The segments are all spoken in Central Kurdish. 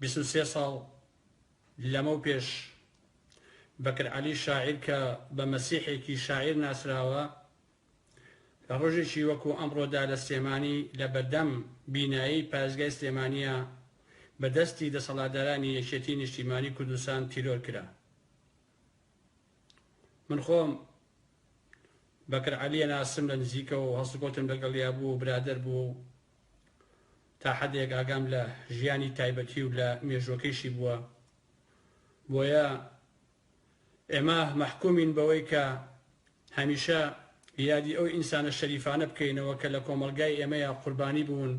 بیست و سێ ساڵ لەمەو پێش، بەکر عەلی شاعیر کە بە مەسیحێکی شاعیر ناسراوە، لە ڕۆژێکی وەکوو ئەمڕۆدا لە سلێمانی لە بەردەم بینایەی پارێزگای سلێمانییە بە دەستی دەسەڵاتدارانی یەکێتیی نیشتیمانیی کوردستان تیرۆر کرا. من خۆم بەکر عەلی ئەناسم لە نزیکەوە و هەڵسوکەوتم لەگەڵیا بوو و برادەر بوو و تا حەدێک ئاگام لە ژیانی تایبەتی و لە مێژووەکەیشی بووە. بۆیە ئێمە مەحکومین بەوەی کە هەمیشە یادی ئەو ئینسانە شەریفانە بکەینەوە کە لە کۆمەڵگای ئێمەیا قوربانی بوون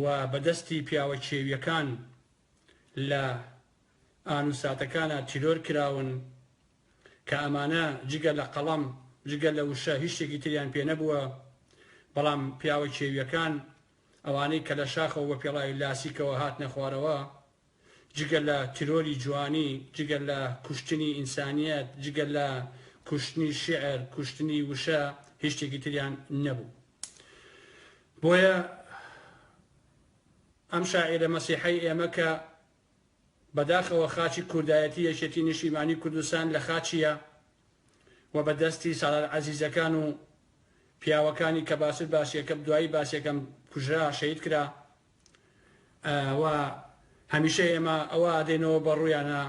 و بە دەستی پیاوە کێوییەکان لە ئان و ساتەکانا تیرۆر کراون. کە ئەمانە جگە لە قەڵەم، جگە لە وشە هیچ شتێکی تریان پێ نەبووە، بەڵام پیاوە کێوییەکان، ئەوانەی کە لە شاخەوە بە پێڵاوی لاسیکەوە هاتنە خوارەوە، جگە لە تیرۆری جوانی، جگە لە کوشتنی ئینسانییەت، جگە لە کوشتنی شیعر، کوشتنی وشە هیچ شتێکی تریان نەبوو. بۆیە ئەم شاعیرە مەسیحەی ئێمە کە بەداخەوە خاچی کوردایەتی یەکێتی نیشتیمانی کوردستان لە خاچیە و بە دەستی سالار عەزیزەکان و پیاوەکانی کە باشتر باسیەکەم دوایی باسیەکەم کوژرا شەهید کرا و هەمیشە ئێمە ئەوە ئادەینەوە بە ڕویانا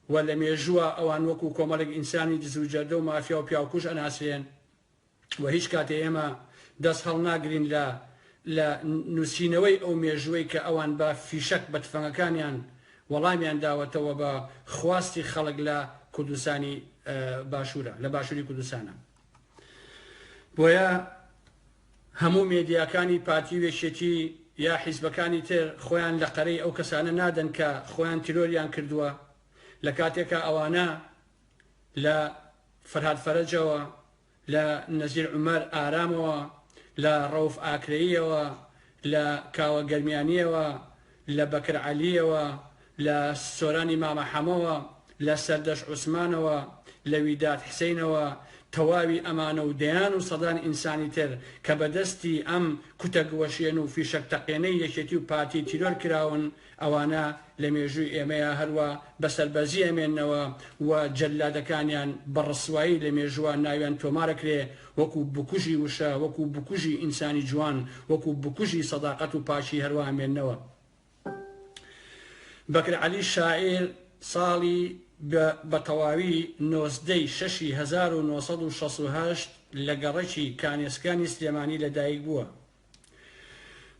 و لە مێژووە ئەوان وەکو کۆمەلێک ئینسانی دزو جەردە و مافیا و پیاوکوژ ئەناسرێن و هیچ کاتێ ئێمە دەست هەڵناگرین لە لە نووسینەوەی ئەو مێژووەی کە ئەوان بە فیشەک بە تفەنگەکانیان وەڵامیان داوەتەوە بە خواستی خەڵک لە کوردستانی باشوورە لە باشووری کوردستانە بۆیە هەموو مێدیاکانی پارتی و یەکێتی یا حیزبەکانی تر خۆیان لە قەرەی ئەو کەسانە نادەن کە خۆیان تیرۆریان کردووە لە کاتێکا ئەوانە لە فەرهاد فەرەجەوە، لە نەزیر عومەر ئارامەوە، لە ڕەوف ئاکرەییەوە، لە کاوە گەرمیانییەوە، لە بەکر عەلییەوە، لە سۆرانی مامە حەمەوە، لە سەردەشت عوسمانەوە، لە ویداد حسینەوە، تەواوی ئەمانە و دەیان و سەدان ئینسانی تر کە بە دەستی ئەم کوتە گوەشێن و فیشەک تەقێنەی یەکێتی و پارتی تیرۆر کراون، ئەوانە لە مێژووی ئێمەیە هەروا بە سەربەرزی ئەمێننەوە و جەللادەکانیان بە ڕسوایی لە مێژووا ناویان تۆمار ئەکرێ وەکوو بکوژی وشە، وەکوو بکوژی ئینسانی جوان، وەکوو بکوژی سەداقەت و پاکی هەروا ئەمێننەوە. بەکر عەلی شاعیر ساڵی بە بە تەواوی نۆزدە ی شەشی هەزار و نۆ سەد و شەست و هەشت لە گەڕەکی کانێسکانی سلێمانی لە دایک بووە.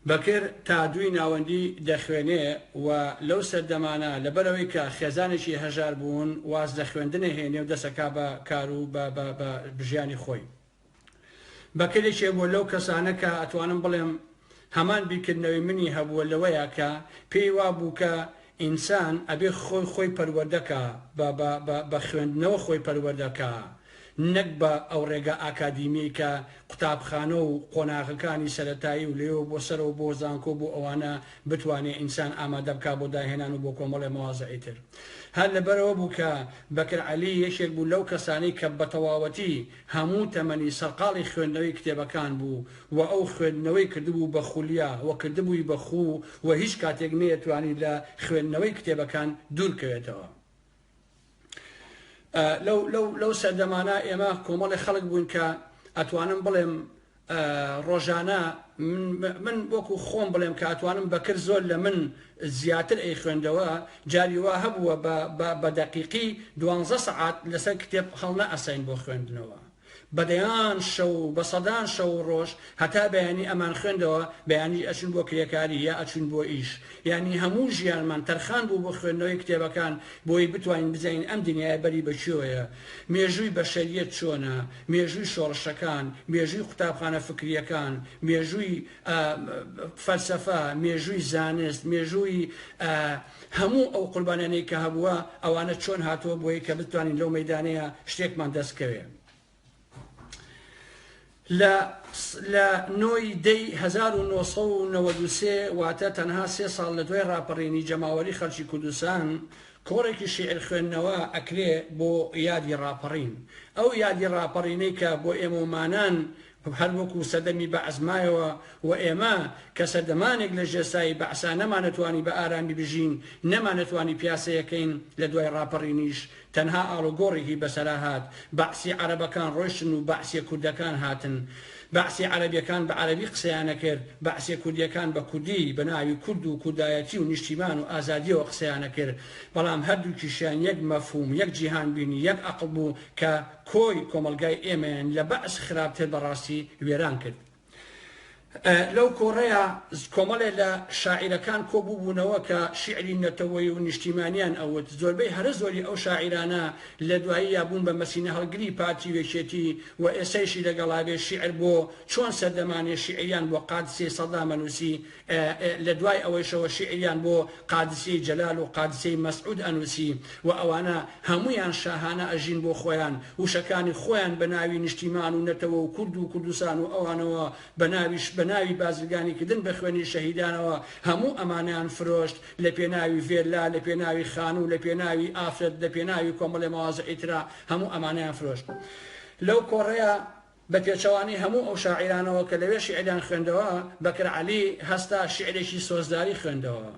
بەکر تا دووی ناوەندی دەخوێنێ و لەو سەردەمانە لەبەر ئەوەی کە خێزانێکی هەژار بوون واز لە خوێندن ئەهێنێ و دەسەکا بە کار و بە بە بە ژیانی خۆی. بەکر یەکێ بووە لەو کەسانە کە ئەتوانم بڵێم هەمان بیرکردنەوەی منی هەبووە لەوەیە کە پێی وا بوو کە ئینسان ئەبێ خۆی خۆی پەروەردە کا بە بە بە بە خوێندنەوە خۆی پەروەردە کا نەک بە ئەو ڕێگا ئاکادیمیەی کە قوتابخانە و قۆناغەکانی سەرەتایی و لەوێوە بۆ سەرەوە بۆ زانکۆ بۆ ئەوانە بتوانێ ئینسان ئامادە بکا بۆ داهێنان و بۆ کۆمەڵێ مەوازعی تر هەر لەبەرەوە بوو کە بەکر عەلی یەکێک بوو لەو کەسانەی کە بەتەواوەتی هەموو تەمەنی سەرقاڵی خوێندنەوەی کتێبەکان بوو و ئەو خوێندنەوەی کردبوو بە خولیا و کردبووی بە خوو و هیچ کاتێک نەیەتوانی لە خوێندنەوەی کتێبەکان دوور کەوێتەوە. لەو سەردەمانە ئێمە کۆمەڵێ خەڵک بووین کە ئەتوانم بڵێم ڕۆژانە من وەکو خۆم بڵێم کە ئەتوانم بەکر زۆر لە من زیاتر ئەیخوێندەوە جاری وا هەبووە بە دەقیقی دوانزە سەعات لەسەر کتێب هەڵنەئەساین بۆ خوێندنەوە بە دەیان شەو بە سەدان شەو و ڕۆژ هەتا بەیانی ئەمان خوێندەوە بەیانیش ئەچوین بۆ کرێکاری یا ئەچوین بۆ ئیش یانی هەموو ژیانمان تەرخان بوو بۆ خوێندنەوەی کتێبەکان بۆی بتوانین بزانین ئەم دنیایە بەری بە کوێیە مێژووی بەشەریەت چۆنە، مێژووی شۆڕشەکان، مێژووی قوتابخانە فکرییەکان، مێژووی ئە فەلسەفە، مێژووی زانست، مێژووی ئە هەموو ئەو قوربانیانەی کە هەبووە ئەوانە چۆن هاتووە بۆی کە بتوانین لەو مەیدانەیە شتێکمان دەست کەوێ. لە لە نۆ ی دە ی هەزار و نۆ سەد و نەوەد و سێ واتە تەنها سێ ساڵ لە دوای ڕاپەڕینی جەماوەری خەڵکی کوردستان کۆڕێکی شیعر خوێندنەوە ئەکرێ بۆ یادی ڕاپەڕین ئەو یادی ڕاپەڕینەی کە بۆ ئێمەومانان هەر وەکو سەردەمی بەعس مایەوە و ئێمە کە سەردەمانێک لە ژێر سایەی بەعسا نەمانەتوانی بە ئارامی بژین نەمانەتوانی پیاسەیەکەین لە دوای ڕاپەڕینیش تەنها ئاڵوگۆڕێکی بەسەرا هات، بەعسی عەرەبەکان ڕۆشتن و بەعسیە کوردەکان هاتن. بەعسی عەرەبیەکان بە عەرەبی قسەیان ئەکرد، بەعسیە کوردیەکان بە کوردی، بە ناوی کورد و کوردایەتی و نیشتیمان و ئازادیەوە قسەیان ئەکرد. بەڵام هەردووکیشیان یەک مەفهوم، یەک جیهان بینی، یەک ئەقڵ بوو کە کۆی کۆمەڵگای ئێمەیان لە بەعس خراپتر بەڕاستی وێران کرد. لەو کۆڕەیا کۆمەڵێ لە شاعیرەکان کۆ بووبوونەوە کە شیعری نەتەوەی و نیشتیمانیان ئەوت زۆربەی هەرە زۆری ئەو شاعیرانە لە دوایی یا بوون بە مەسینە هەڵگری پارتی وێکێتی و ئێسەیشی لەگەڵابێ شیعر بۆ چۆن سەردەمانێ شیعریان بۆ قادسێ سەدامە نووسی لە دوای ئەوەیشەوە شیعریان بۆ قادسیەی جەلال و قادسیەی مەسعود ئەنووسی و ئەوانە هەموویان شاهانە ئەژین بۆ خۆیان وشەکانی خۆیان بە ناوی نیشتیمان و نەتەوە و کورد و کوردستان و ئەوانەوە بە ناویش بە ناوی بازرگانی کردن بە خوێنی شەهیدانەوە هەموو ئەمانەیان فرۆشت لە پێناوی ڤێللا لە پێناوی خانوو لە پێناوی ئافرەت لە پێناوی کۆمەڵێ مەوازعی ترا هەموو ئەمانەیان فرۆشت لەو کۆڕەیا بە پێچەوانەی هەموو ئەو شاعیرانەوە کە لەوێ شیعریان خوێندەوە، بەکر عەلی هەستا شیعرێکی سۆزداری خوێندەوە.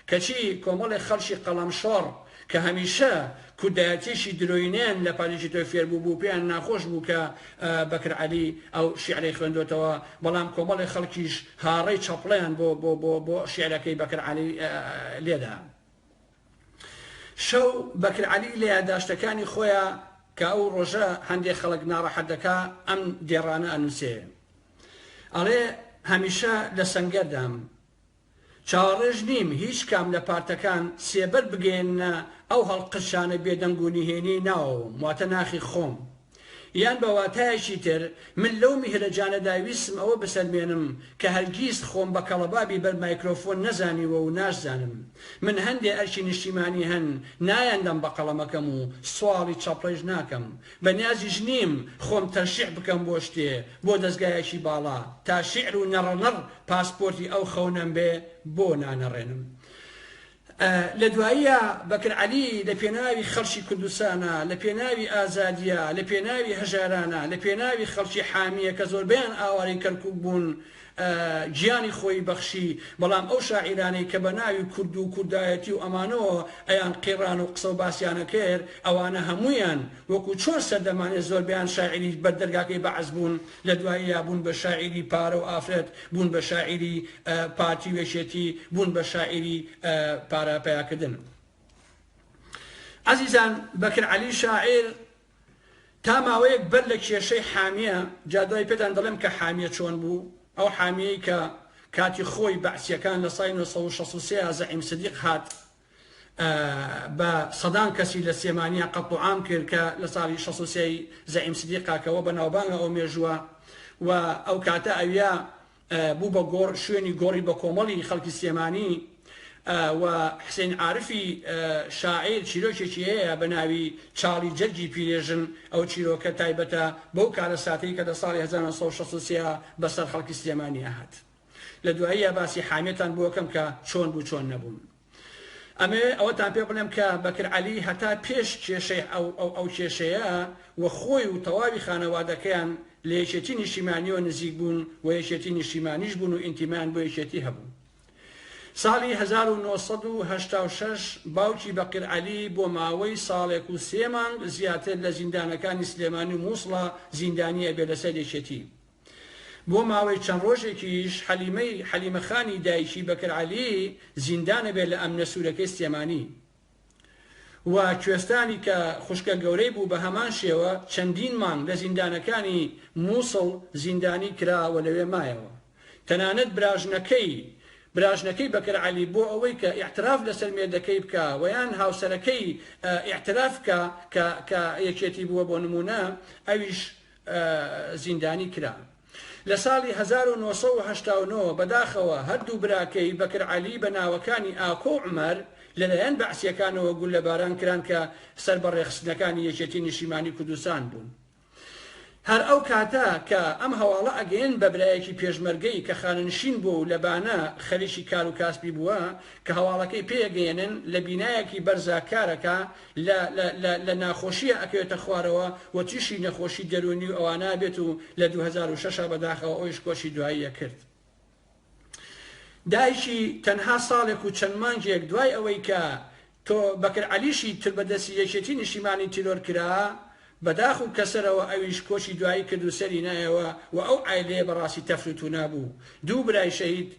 کەچی کۆمەڵێک خەڵکی قەڵەمشۆڕ کە هەمیشە کوردایەتییەکی درۆینەیان لە پاژێکی تۆی فێر بووبوو، پێیان ناخۆش بوو کە بەکر عەلی ئەو شیعرەی خوێندۆتەوە، بەڵام کۆمەڵێک خەڵکیش هاڕەی چەپڵەیان بۆ شیعرەکەی بەکر عەلی لێدا. شەو بەکر عەلی لە یاداشتەکانی خۆیا کە ئەو ڕۆژە هەندێ خەڵک ناڕەحەت دەکا ئەم دێڕانە ئەنووسێ ئەڵێ هەمیشە لە سەنگەردام چاوەڕێش نیم هیچ کام لە پارتەکان سێبەر بگەیەننە ئەو هەڵقرچانە بێدەنگ و نهێنیەی ناوەوەم واتە ناخی خۆم. یان بە واتایەکی تر، من لەو میهرەجانەدا ویستم ئەوە بسەلمێنم کە هەرگیز خۆم بە کەڵەبابی بەر مایکرۆفۆن نەزانیوە و ناشزانم. من هەندێ ئەرکی نیشتیمانی هەن نایاندەم بە قەڵەمەکەم و سواڵی چەپڕەیش ناکەم. بە نیازیش نیم خۆم تەشیع بکەم بۆ شتێ، بۆ دەزگایەکی باڵا. تا شیعر و نەڕەنەڕ پاسپۆرتی ئەو خەونەم بێ، بۆ نانەڕێنم؟ لە دواییە بەکر عەلی لە پێناوی خەڵکی کوردستانە، لە پێناوی ئازادییە، لە پێناوی هەژارانە، لە پێناوی خەڵکی حامییە کە زۆربەیان ئاوارەی کەرکووک بوون گیانی خۆی بەخشی، بەڵام ئەو شاعیرانەی کە بە ناوی کورد و کوردایەتی و ئەمانەوە ئەیان قیڕان و قسە و باسیان ئەکرد ئەوانە هەموویان وەکوو چۆن سەردەمانێ زۆربەیان شاعیری بەر دەرگاکەی بەعس بوون لە دواییە بوون بە شاعیری پارە و ئافرەت، بوون بە شاعیری. پارتی و یەکێتی بوون بە شاعیری پارە پەیاکردن. ئەزیزان بەکر عەلی شاعیر تا ماوەیەک بەر لە کێشەی حامیە، جا دوای پێتان دەڵێم کە حامیە چۆن بوو، ئەو حامیەی کە کاتی خۆی بەعسیەکان لە ساڵی نۆ سەد و شەست و سێ ە زەعیم سدیق هات بە سەدان کەسی لە سلێمانیا قەتڵوعام کرد کە لە ساڵی شەست و سێ ی زەعیم سدیقە کە وە بەناوبانگە ئەو مێژووە و ئەو کاتە ئەویا بوو بە گۆڕ شوێنی گۆڕی بەکۆمەڵی خەڵکی سلێمانی و حسین عارفی شاعیر چیرۆکێکی هەیە بە ناوی چاڵی جەرگی پیرێژن ئەو چیرۆکە تایبەتە بەو کارەساتەی کە لە ساڵی 1963 بەسەر خەڵکی سلێمانیا هات لە دواییە باسی حامێتان بۆکەم کە چۆن بوو چۆن نەبوون. ئەمەوێ ئەوەتان پێ بڵێم کە بەکر عەلی هەتا پێش کێشەی ئەو ئەو ئەو کێشەیە و خۆی و تەواوی خانەوادەکەیان لە یەکێتی نیشتیمانیەوە نزیک بوون و یەکێتی نیشتیمانیش بوون و ئینتیمایان بۆ یەکێتی هەبوو. ساڵی هەزار و نۆ سەد و هەشتا و شەش باوکی بەکر عەلی بۆ ماوەی ساڵێک و سێ مانگ زیاتر لە زیندانەکانی سلێمانی و موسڵە زیندانی ئەبێ لەسەر یەکێتی. بۆ ماوەی چەند ڕۆژێکیش حەلیمەی، حەلیمە خانی، دایکی بەکر عەلی زیندانەبێت لە ئەمنە سوورەکەی سلێمانی و کوێستانی کە خوشکە گەورەی بوو بە هەمان شێوە چەندین مانگ لە زیندانەکانی مووسڵ زیندانی کرا و لەوێ مایەوە تەنانەت براژنەکەی براژنەکەی بەکر عەلی بۆ ئەوەی کە ئیعتراف لەسەر مێردەکەی بکا و یان هاوسەرەکەی ئیعتراف بکا کە کە یەکێتی بووە بۆ نموونە ئەویش زیندانی کرا. لە ساڵی هەزار و نۆ سەد و هەشتا و نۆ بەداخەوە هەردوو براکەی بەکر عەلی بە ناوەکانی ئاکۆ و عومەر لەلایەن بەعسییەکانەوە گوللەباران کران کە سەر بە ڕێکخستنەکانی یەکێتی نیشیمانی کوردستان بوون. هەر ئەو کاتە کە ئەم هەواڵە ئەگەیەن بە برایەکی پێشمەرگەی کە خانەنشین بووە و لە بانە خەریکی کار و کاسبی بووە کە هەواڵەکەی پێ ئەگەیەنن لە بینایەکی بەرزا کار ئەکا لە لە لە لە ناخۆشیە ئەکەوێتە خوارەوە و تیشی نەخۆشی دەرونی و ئەوانە بێت و لە دوو هەزار و شەش بەداخەوە ئەویش کۆچی دواییە کرد دایکی تەنها ساڵێک و چەند مانگێک دوای ئەوەی کە تۆ بەکر عەلیشی تر بەدەستی یەکێتی نیشتیمانی تیرۆر کرا بەداخ و کەسەرەوە ئەویش کۆچی دوایی کرد و سەری نایەوە و ئەو عایلەیە بەڕاستی تەفر و تونا بوو دوو برای شەهید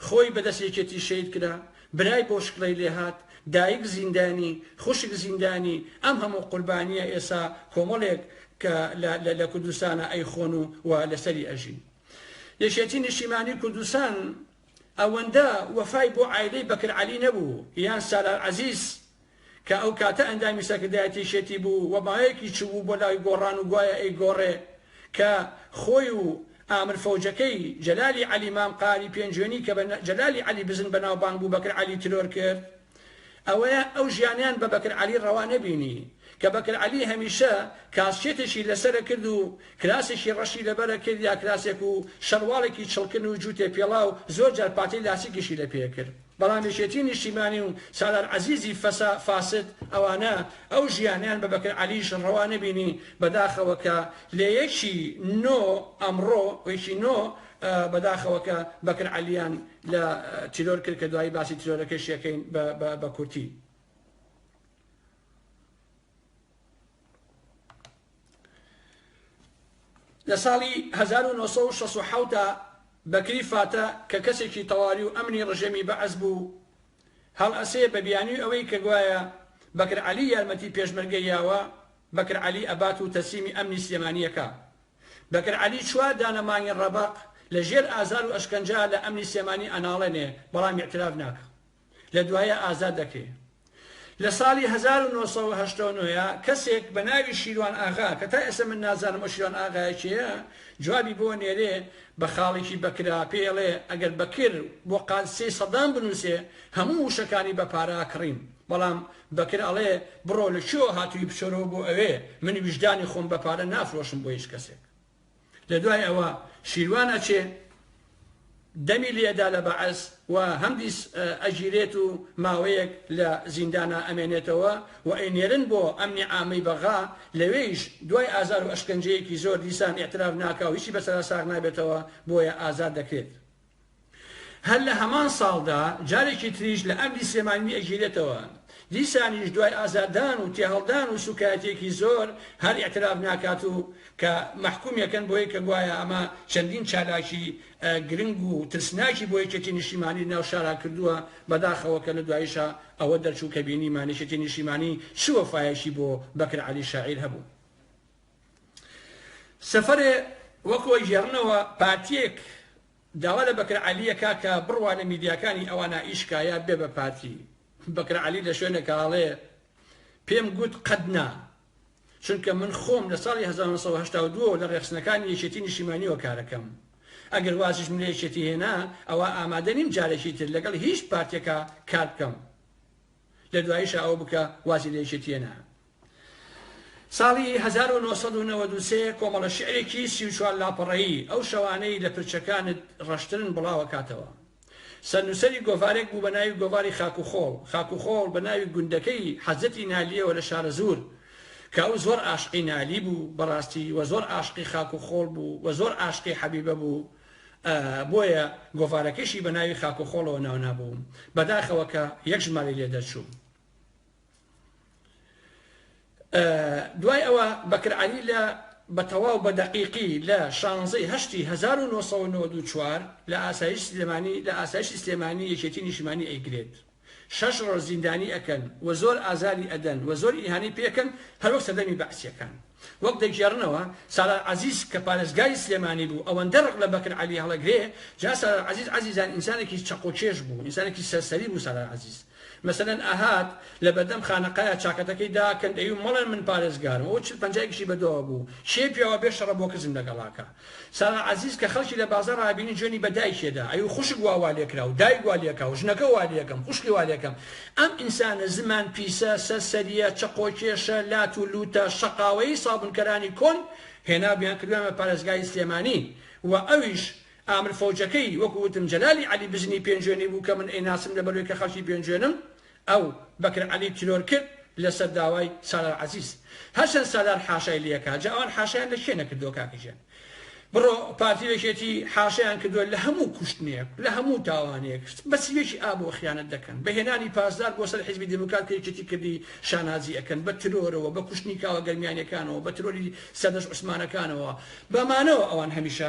خۆی بەدەست یەکێتی شەید کرا، برای بۆ شکڵەی لێهات، دایک زیندانی، خوشک زیندانی، ئەم هەموو قوربانیە ئێسا کۆمەڵێک کە لە لە کوردستانا ئەیخۆن و و لەسەری ئەژین. یەکێتی نیشتیمانی کوردستان ئەوەندە وەفای بۆ عایلەی بەکر عەلی نەبوو یان سالار عەزیز کە ئەو کاتە ئەندامی سەرکردایەتی شێتی بوو و ماوەیەکی چووبوو بۆ لای گۆڕان و گوایە ئەیگۆڕێ کە خۆی و ئامر فەوجەکەی جەلالی عەلی مام قاری پێنجوێنی کە بە جەلالی عەلی بزن بەناوبانگ بوو بەکر عەلی ترۆر کرد. ئەوەیە ئەو ژیانیان بە بەکر عەلی ڕەوا نەبینی کە بەکر عەلی هەمیشە کاسکێتێکی لەسەرە کرد و کراسێکی ڕەشی لەبەرە کرد یا کراسێک و شەرواڵێکی چڵکن و جووتێ پێڵاو زۆر جار پاتەی لاسیکیشی لە پێ کرد. بەڵام یەکێتی نیشتیمانی و سالار عەزیزی فەسا فاسد ئەوانە ئەو ژیانەیان بە بەکر عەلیش ڕەوا نەبینی بەداخەوە کە لە یەکی نۆ ئەمڕۆ یەکی نۆ بەداخەوە کە بەکر عەلیان لە تیرۆر کرد کە دوایی باسی تیرۆرەکەشی ئەکەین بە بە بە کورتی. لە ساڵی 1967 بەکری فاتە کە کەسێکی تەواوی و ئەمنی ڕژێمی بەعس بوو، هەڵئەسێ بە بیانوی ئەوەی کە گوایە بەکر عەلی یارمەتی پێشمەرگە یاوە، بەکر عەلی ئەبات و تەسلیمی ئەمنی سلێمانی ئەکا. بەکر عەلی چوار دانە مانگی ڕەبەق لە ژێر ئازار و ئەشکەنجە لە ئەمنی سلێمانی ئەناڵێنێ، بەڵام ئیعتراف ناکا. لە دوایە ئازاد دەکرێ. لە ساڵی هەزار و نۆ سەد و هەشتا و نۆ ە کەسێک بە ناوی شیروان ئاغا کە تا ئێستا من نازانم ئەو شیروان ئاغایە کێیە جوابی بۆ نێرێ بە خاڵێکی بەکرا پێی ئەڵێ ئەگەر بەکر بۆ قادسیەی سەدام بنووسێ هەموو وشەکانی بە پارە ئەکڕین بەڵام بەکر ئەڵێ بڕۆ لە کوێوە هاتووی بچۆرەوە بۆ ئەوێ من ویژدانی خۆم بە پارە نافرۆشم بۆ هیچ کەسێک. لەدوای ئەوە شیروان ئەچێ دەمی لێ ئەدا لە بەعس و هەمدیس ئەگیرێت و ماوەیەک لە زیندانا ئەمێنێتەوە و ئەینێرن بۆ ئەمنی عامەی بەغا لەوێیش دوای ئازار و ئەشکەنجەیەکی زۆر دیسان ئیعتراف ناکا و هیچی بەسەرا ساغ نابێتەوە بۆیە ئازاد دەکرێت. هەر لە هەمان ساڵدا جارێکی تریش لە ئەمری سلێمانی ئەگیرێتەوە، دیسانیش دوای ئازاردان و تێهەڵدان و سوکایەتیەکی زۆر هەر ئیعتراف ناکات و کە مەحکومی ئەکەن بۆی کە گوایە ئەمە چەندین چالاکی گرنگ و ترسناکی بۆ یەکێتی نیشتیمانی ناو شارا کردووە، بەداخەوە کە لە دواییشا ئەوە دەرچوو کە بینیمان یەکێتی نیشتیمانی چ وەفایەکی بۆ بەکر عەلی شاعیر هەبوو. سفرێ وەک وەیگێڕنەوە پارتیەک داوا لە بەکر عەلیە کاکە بڕوانە میدیاکانی ئەوانا ئی شکایە بێ بە پارتی بەکر عەلی لە شوێنێکا ئەڵێ پێم گوت قەت نا چونکە من خۆم لە ساڵی 1992 لە ڕێخستنەکانی یەکێتی نیشیمانیەوە کارەکەم ئەگەر وازیش من لە یەکێتی هێنا ئەوە ئامادە نیم جارێکی تر لەگەڵ هیچ پارتێکە کار بکەم لە دواییشە ئەوە بکە وازی لە یەکێتیەنا ساڵی هەزار و نۆ سەد و نەوەد و سێ کۆمەڵە شیعرێکی سی و چوار لاپەڕەیی، ئەو شەوانەی لە پرچەکانت ڕەشترن بڵاوەکاتەوە. سەرنووسەری گۆڤارێک بوو بە ناوی گۆڤاری خاک و خۆڵ، خاک و خۆڵ بە ناوی گوندەکەی حەزرەتی نالییەوە لە شارەزوور، کە ئەو زۆر عاشقی نالی بوو بەڕاستی و زۆر عاشقی خاک و خۆڵ بوو و زۆر عاشقی حەبیبە بوو، ئە بۆیە گۆڤارەکەیشی بە ناوی خاک و خۆڵەوە ناونابوو. بەداخەوە کە یەک ژمارەی لێ دەرچوو. دوای ئەوە بەکر عەلی لە بە تەواو بە دەقیقی لە شانزەی هەشتی هەزار و نۆ سەد و نەوەد و چوار لە ئاسایش سلێمانی لە ئاسایشی سلێمانی یەکێتی نیشتمانی ئەیگرێت شەش ڕۆژ زیندانی ئەکەن و زۆر ئازاری ئەدەن و زۆر ئیهانەی پێ ئەکەن هەر وەک سەردەمی بەعسیەکان وەک دەگێڕنەوە سالار عەزیز کە پارێزگاری سلێمانی بوو ئەوەندە ڕق لە بەکر عەلی هەڵەگرێ جا سالار عەزیز عەزیزان ئینسانێکی چەقۆکێش بوو ئینسانێکی سەرسەری بوو سالار عەزیز مەسەلەن ئەهات لە بەردەم خانەقایە چاکەتەکەی دا کەن دەیوو مەڵێن من پارێزگارم ئەوە چل پەنجایەکیشی بە دۆوە بوو کێ پیاوە بێ شەڕە بۆ کزم لەگەڵاکا سارا عەزیز کە خەڵکی لە بازاڕ ئابینی جوێنی بە دایکێ دا ئەیوو خوشک وا وا لێ کرا و دایک وا لێ کا و ژنەکە وا لێ کەم خوشکی وا لێ کەم ئەم ئینسانە زمان پیسە سەر سەریە چەقۆکێشە لات و لووتە شەقاوەیی سابونکەرانی کۆن هێنابوویان کردوویانە پارێزگاری سلێمانی و ئەویش ئامر فەوجەکەی وەکو وتم جەلالی عەلی بزنی پێنجوێنی بوو کە من ئەیناسم لەبەروەی کە خەڵکی پێنجوێنم ئەو، بەکر عەلی، تیرۆر کرد لەسەر داوای، سالار عەزیز، هەرچەند سالار حاشای لێکا جا ئەوان حاشایان لە کێ نەکردووە کاکە گیان بڕۆ پارتی و یەکێتی حاشایان کردووە لە هەموو کوشتنێک لە هەموو تاوانێک بە سیوێکی ئابەوە خیانەت دەکەن بە هێنانی پاسدار بۆ سەر حیزبی دێموکرات کە یەکێتی کردی شانازی ئەکەن بە ترۆرەوە بە کوشتنی کاوە گەرمیانیەکانەوە بە ترۆری سەردەشت عوسمانەکانەوە بە مانەوە ئەوان هەمیشە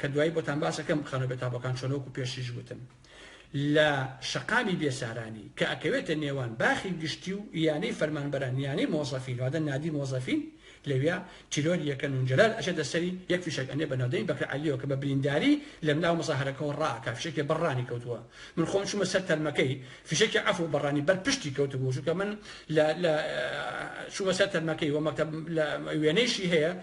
کە دوایی بۆتان باس ئەکەم بخەنەوە بێ تابۆکان چۆنە وەکو پێشتریش وتم لە شەقامی بێسارانی کە ئەکەوێتە نێوان باخی گشتی و یانەی فەرمانبەران یانەی مۆزەفین واتە نادی مۆزەفین لەویا تیرۆری یەکەن و جەلال ئەچێتە سەری یەک فیشەک ئەنێ بە ناودەمی بەکر عەلیەوە کە بە برینداری لەم ناو مزاهرەکەوە ڕا ئەکا فیشەکی بەر ڕانی کەوتووە من خۆم چوومە سەر تەرمەکەی فیشەکی عەفو بە ڕانی بەر پشتی کەوتبوو چونکە من لە لە چوومە سەر تەرمەکەی وە مەکتەب لە وێنەیشی هەیە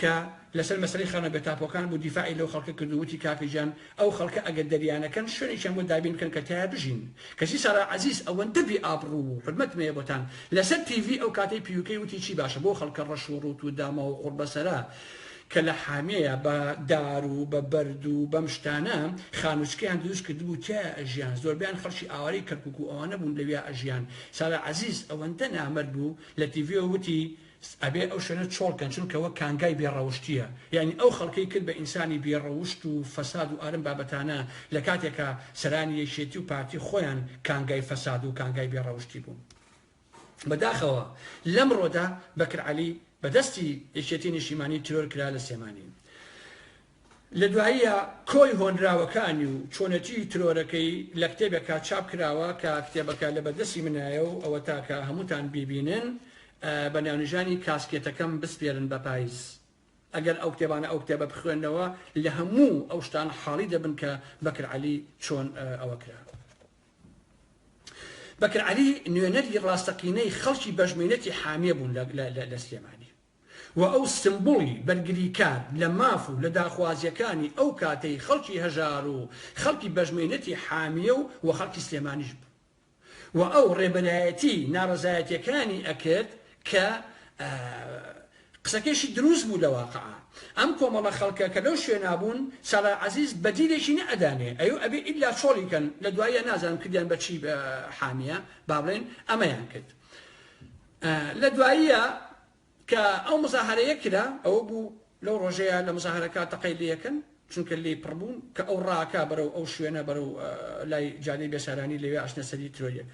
کە لەسەر مەسەلەی خانوە بێتاپۆکان بوو دیفاعی لەو خەڵکە کرد و وتی کاکە گیان ئەو خەڵکە ئەگەر دەریانەکەن شوێنێکیان بۆ دابین بکەن کە تایا بژین کەچی سارا عەزیز ئەوەندە بی ئابڕوو و حورمەتم هەیە بۆتان لەسەر تیڤی ئەو کاتەی پیوکەی وتی چی باشە بۆ خەڵکە ڕەش و ڕووت و داماو و قوڕبەسەرە کە لە حامیە بە دار و بە بەرد و بەم شتانە خانوچکەیان دروست کردبوو تیایا ئەژیان زۆربەیان خەڵکی ئاوارەی کەرکوک و ئەوانە بوون لەویا ئەژیان سارا عەزیز ئەوەندە نامەرد بوو لە تیڤیەوە وتی ئەبێ ئەو شوێنە چۆڵ کەن چونکە وەک کانگای بێ ڕەوشتیە یانی ئەو خەڵکەی کرد بە ئینسانی بێ ڕەوشت و فەساد و ئارم بابەتانە لە کاتێکا سەرانی یەکێتی و پارتی خۆیان کانگای فەساد و کانگای بێ ڕەوشتی بوون بە داخەوە لەم ڕۆدا بەکر عەلی بە دەستی یەکێتی نیشتیمانی ترۆر کرا لە سێمانی لە دواییە کۆی هۆنراوەکانی و چۆنێتیی ترۆرەکەی لە کتێبێکا چاپ کراوە کە کتێبەکە لە بەردەستی منایە و ئەوەتا کە هەمووتان بیبینن بە ناونیشانی کاسکێتەکەم بسپێرن بە پایز. ئەگەر ئەو کتێبانە ئەو کتێبە بخوێننەوە لە هەموو ئەو شتان حاڵی دەبن کە بەکر عەلی چۆن ئەوە کرا. بەکر عەلی نوێنەری ڕاستەقینەی خەڵکی بەش مەینەتی حامیە بوون لە سلێمانی. و ئەو سمبوڵی بەرگریکار لە ماف و لە داخوازیەکانی ئەو کاتەی خەڵکی هەژار و خەڵکی بەشمەینەتی حامیە و و خەڵکی سلێمانیش بوو و ئەو ڕێبەرایەتی ناڕەزایەتیەکانی ئەکرد کە قسەکەیشی دروست بوو لە واقع ئەم کۆمەڵە خەڵکە کە لەو شوێنا بوون سالار عەزیز بەدیلێکی نە ئەدانێ ئەیو ئەبێ ئیلا چۆڵی کەن لە دواییە نازانم کردیان بە چی بە حامیە با بڵێن ئەمەیان کرد لە دواییە کە ئەو مزاهەرەیە کرا ئەوە بوو لەو ڕۆژەیە لە مزاهەرەکە تەقەی لێکن چونکە لێی پڕ بوون کە ئەو ڕاکە بەرەو ئەو شوێنە بەرەو لای جادەی بێسارانی لەوێ ئەچنە سەری ترۆیەک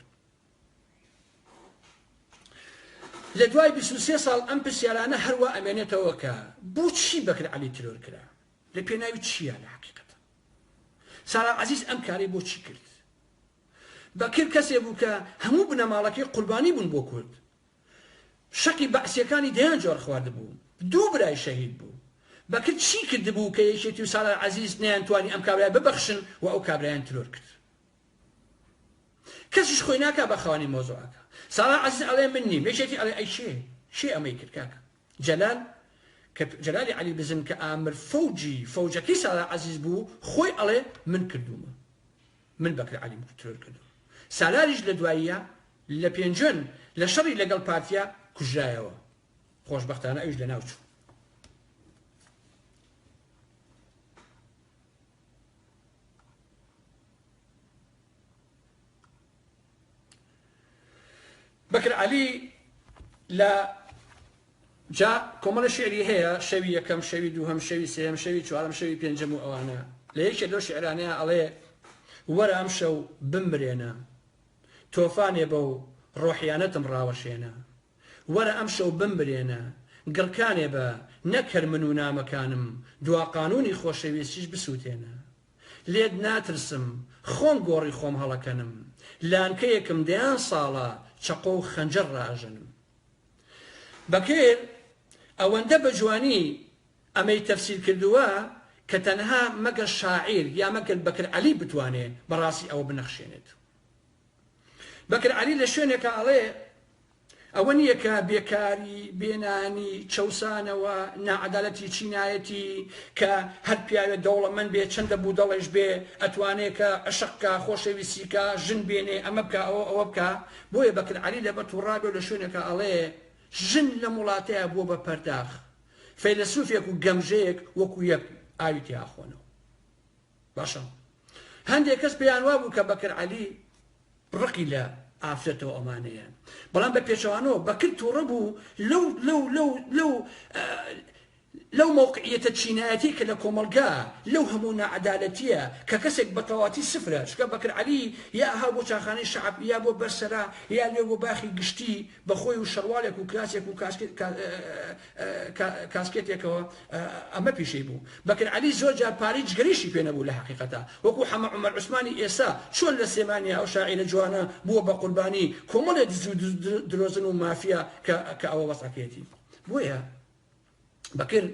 لە دوای 23 ساڵ ئەم پرسیارانە هەروە ئەمێنێتەوە کە بۆچی بەکر علی ترۆر کرا لە پێناوی چییە لە حقیقەت سارا عزیز ئەم کاری بۆچی کرد بەکر کەسێ بوو کە هەموو بنەماڵەکەی قوربانی بوون بۆ کورد. شەقی بەعسیەکانی دەیان جۆر خواردبوو. دوو برای شەهید بوو. بەکر چی کردبوو کە یەکێتی و سالار عەزیز نەیان توانی ئەم کابرایە ببەخشن و ئەو کابرایان ترۆر کرد. کەسیش خۆی ناکا بە خاوەنی مەوزوعەکە. سالار عەزیز ئەلێ من نیم. یەکێتی ئەلێ ئەی کێ؟ کێ ئەمەی کرد کاکە؟ جەلال، کە جەلالی عەلی بزن کە ئامر فەوجی فەوجەکەی سالار عەزیز بوو خۆی ئەلێ من کردوومە. من بەکر عەلیم ترۆر کردووم سالاریش لە دواییە لە پێنجوێن لە شەڕی لەگەڵ پارتیا کوژرایەوە خۆشبەختانە ئەویش لە ناو چوو. بەکر عەلی لە جا کۆمەڵە شعری هەیە شەوی یەکەم شەوی دووهەم شەوی سێم شەوی چوارم شەوی پێنجەم و ئەوانە لە یەکێ لەو شعرانەیە ئەڵێ وەرە ئەم شەو بمرێنە تۆفانێ بە و ڕۆحیانەتم ڕاوەشێنە وەرە ئەم شەو بمرێنە گڕکانێ بە نەکەر من و نامەکانم دوا قانونی خۆشەویستیش بسووتێنە لێت ناترسم خۆم گۆڕی خۆم هەڵەکەنم لانکەیەکم دەیان ساڵە چەقۆ و خەنجەر ڕاژەنم بەکر ئەوەندە بە جوانی ئەمەی تەفسیر کردووە کە تەنها مەگەر شاعیر یا مەگەر بەکر عەلی بتوانێ بەڕاستی ئەوە بنەخشێنێت بەکر عەلی لە شوێنێکا ئەڵێ ئەوە نییە کە بێکاری، بێنانی، چەوسانەوە، ناعەدالەتی چینایەتی کە هەر پیاوێ دەوڵەمەند بێ چەندە بودەڵەیش بێ ئەتوانێ کە عەشق بکا، خۆشەویستی بکا، ژن بێنێ، ئەمە بکا ئەوە ئەوە بکا. بۆیە بەکر عەلی لە بە توڕا بێ و لە شوێنێکا ئەڵێ، ژن لەم وڵاتەیا بووە بە پەرداخ، فەیلەسوفێک و گەمژەیەک وەکوو یەک ئاوی تێ ئاخۆنەوە. باشە هەندێک کەس پێیان وابوو کە بەکر عەلی ڕقی لە ئافرەتەوە ئەمانەیە بەڵام بە پێچەوانەوە بەکر تووڕە بوو لەو لەو لەو لەو لەو مووقعیەتە چینایەتی کە لە کۆمەلگا لەو هەموو نەعەدالەتیە کە کەسێک بەتەواتی سفرە چکە بەکر علی یا ها بۆ چاخانەی شعب یا بۆ بەرسەرا یا لێ بۆ باخی گشتی بەخۆی و شەڕوالێک و کراسێک و کاسکێتێکەوە ئەمە پیشەی بوو. بەکر عەلی زۆر جار پارەی جگەرەیشی پێ نەبوو لە حەقیقەتا وەکو حەمە عومەر عوسمانی ئێستا چۆن لە سلێمانیا ئەو شاعیرە جوانە بووە بە قوربانی کۆمەڵێ دز و درۆزن و مافیا کە کە ئەوە وەزعەکەیەتی بۆیە بەکر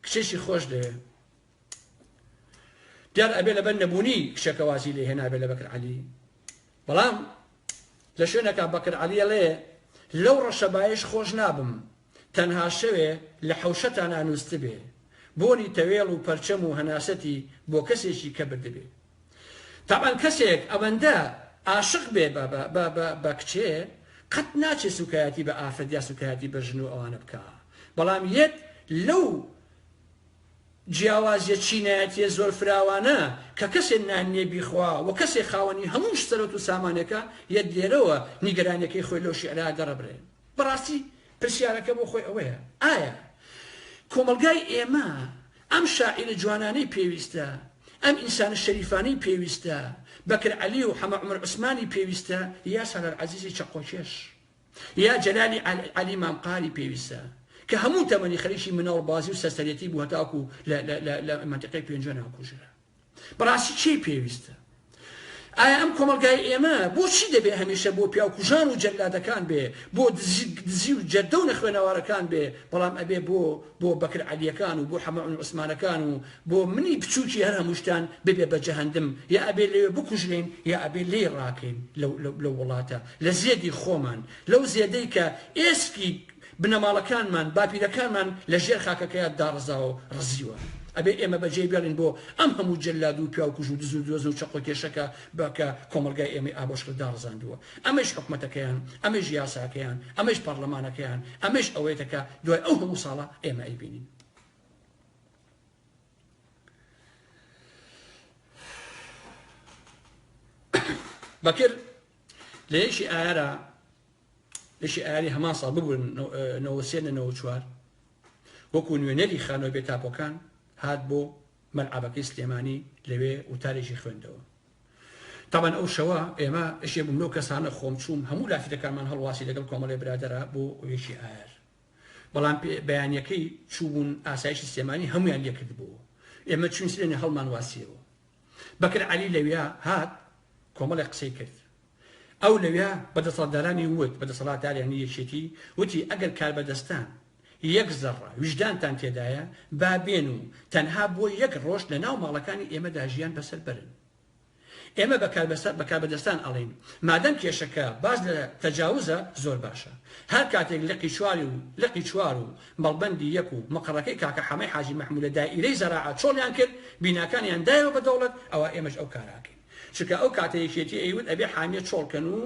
کچێکی خۆش دەوێ. دیار ئەبێ لەبەر نەبوونی کچەکە وازی لێ هێنابێ لە بەکر عەلی بەڵام لە شوێنەکە بەکر عەلیە لێ لەو ڕەشەبایش خۆش نابم تەنها شەوێ لە حەوشەتا نانوستبێ بۆنی تەوێڵ و پەرچەم و هەناسەتی بۆ کەسێکی کە بردبێ تاوان کەسێک ئەوەندە ئاشق بێ بە کچێ قەت ناچێ سوکایەتی بە ئافرەت یا سوکایەتی بە ژن و ئەوانە بکە بەڵام یەت لەو جیاوازیە چینایەتیە زۆر فراوانە کە کەسێ نان نیە بیخوا و کەسێ خاوەنی هەموو سەرەوت و سامانێکە یەت لێرەوە نیگەرانیەکەی خۆی لەو شیعرە دەڕبرێ بەڕاستی پرسیارەکە بۆ خۆی ئەوەیە ئایا کۆمەڵگای ئێمە ئەم شاعیرە جوانانەی پێویستە ئەم ئینسانە شەریفانەی پێویستە بەکر عەلی و حەمە عومەر عوسمانی پێویستە یا سالار عەزیزی چەقۆکێش یا جەلالی عەلی مامقالی پێویستە کە هەموو تەمەنی خەریکی مناڵ بازی و سەرسەرێتی بوو هەتاکو لە مەنتقەی پێنجۆ ناکوژرا بەڕاستی چی پێویستە ئایا ئەم کۆمەلگای ئێمە بۆچی دەبێ هەمیشە بۆ پیاوکوژان و جەلادەکان بێ بۆ دزی و جەردە و نەخوێنەوارەکان بێ بەڵام ئەبێ بۆ بۆ بەکر عەلیەکان و بۆ حەمەعون عوسمانەکان و بۆ منی بچووکی هەر هەمووشتان ببێ بە جەهندم یا ئەبێ لێ بکوژرێن یا ئەبێ لێ ڕاکەین لە وڵاتە لە زێدی خۆمان، لەو زێدەی کە ئێسکی بنەماڵەکانمان، باپیرەکانمان لە ژێر خاکەکەیا داڕزاوەو ڕزیوە. ئەبێ ئێمە بەجێی بێڵین بۆ ئەم هەموو جەلادو پیاوکوژو دزو درۆزنو چەقۆکێشەکە بە کە کۆمەڵگای ئێمەی ئابۆشکرد داڕزاندووە. ئەمەیش حکومەتەکەیان، ئەمەیش یاساکەیان، ئەمەیش پەڕلەمانەکەیان، ئەمەیش ئەوەیەتە کە دوای ئەو هەموو ساڵە ئێمە ئەیبینین. بەکر لە یەکی ئایارا یەکی ئایاری هەمان ساڵ ببوون نەوە سێ لە نەوە چوار وەکو نوێنەری خانۆی بێ تاپۆکان هات بۆ مەلعبەکەی سلێمانی لەوێ وتارێکی خوێندەوە تاوان ئەو شەوە ئێمە ئەشێ بووم لەو کەسانە خۆم چووم هەموو لافیتەکانمان هەڵواسی لەگەڵ کۆمەڵی برادرا بۆ یەکی ئایار بەڵام بەیانەکەی چوبوون ئاسایشی سلێمانی هەمویان لێکرد بوو ئێمە چون سلێنە هەڵمان واسیەوە بەکر عەلی لەویا هات کۆمەڵێک قسەی کرد. ئەو لەویا بە دەسەڵاتدارانی وت، بە دەسەڵاتدارانی یەکێتی وتی ئەگەر کاربەدەستان یەک زەڕە ویژدانتان تێدایە با بێن و تەنها بۆ یەک ڕۆژ لە ناو ماڵەکانی ئێمەدا ژیان بەسەر بەرن. ئێمە بە کاربەدەستان ئەڵێین مادەم کێشەکە باس لە تەجاوزە زۆر باشە هەر کاتێک لقی چوار و لقی چوار و مەڵبەندی یەک و مقەڕەکەی کاکە حەمەی حاجی مەحموود لە دائیرەی زەراعە چۆڵیان کرد، بیناکانیان دایەوە بە دەوڵەت، ئەوا ئێمەش ئەو کارە ئەکەین. چونکە ئەو کاتە یەکێتی ئەیوت ئەبێ حامیە چۆڵ کەن و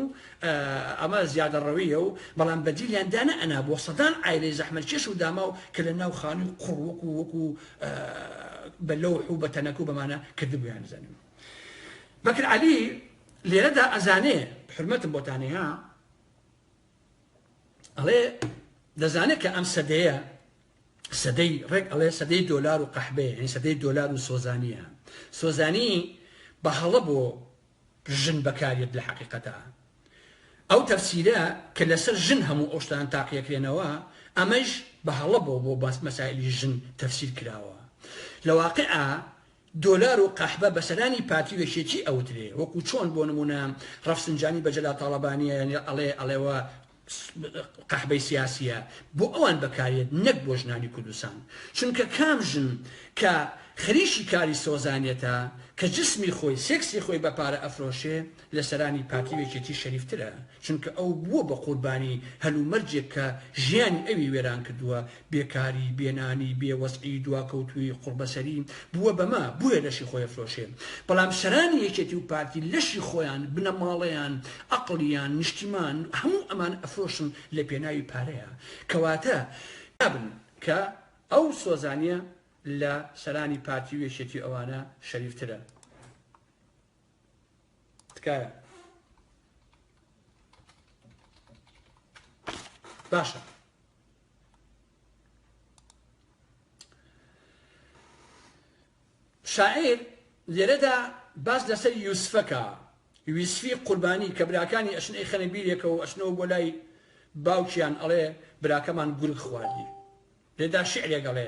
ئەمە زیادەڕەوییە و بەڵام بەدیلیان دانەئەنا بۆ سەدان عایلەی زەحمەتکێش و داماو کە لە ناو خانووی قوڕ وەک و وەک و بە لەوح و بە تەنەکە و بەمانە کردبوویان زەنم. بەکر عەلی لێرەدا ئەزانێ. حورمەتم بۆتانەیە. ئەڵێ دەزانێت کە ئەم سەدەیە سەدەی ڕێک ئەڵێ سەدەی دۆلار و قەحبەیە هەین سەدەی دۆلار و سۆزانیە سۆزانی بە هەڵە بۆ ژن بەکارێت لە حقیقەتە ئەو تەفسیرە کە لەسەر ژن هەموو ئەوشتان تاقیەکرێنەوە ئەمەش بە هەڵە بۆ بۆ باس مەسایلی ژن تەفسیر کراوە لە واقع دۆلار و قەحبە بە سەرانی پارتی و یەکێتی ئەوترێ وەکو چۆن بۆ نمونە ڕەفسنجانی بە جەلال تاڵەبانیە یانی ئەڵێ ئەڵێوە قەحبەی سیاسیە بۆ ئەوان بەکاریەت نەک بۆ ژنانی کوردستان چونکە کام ژن کە خەریکی کاری سۆزانیەتە کە جسمی خۆی سێکسی خۆی بە پارە ئەفرۆشێ لە سەرانی پارتی و یەکێتی شەریفترە، چونکە ئەو بووە بە قوربانی هەلومەرجێک کە ژیانی ئەوی وێران کردووە، بێکاری، بێنانی، بێ وەزعی، دواکەوتوویی، قوڕبەسەری، بووە بە مە، بۆیە لەشی خۆی ئەفرۆشێ. بەڵام سەرانی یەکێتی و پارتی لەشی خۆیان، بنەماڵەیان، عەقڵیان، نیشتیمان، هەموو ئەمان ئەفرۆشن لە پێناوی پارەیا. کەواتە نابن کە ئەو سۆزانیە لە سەرانی پارتی و یەکێتی و ئەوانە شەریفترە. تکایە باشە شاعیر لێرەدا باس لەسەر یوسفەکە ویسفی قوربانی کە براکانی ئەشن ئەی خەنە بیرێکەوە ئەشنەوە بۆ لای باوکیان ئەڵێ براکەمان گورگ خواردی لێدا شعرێک ئەڵێ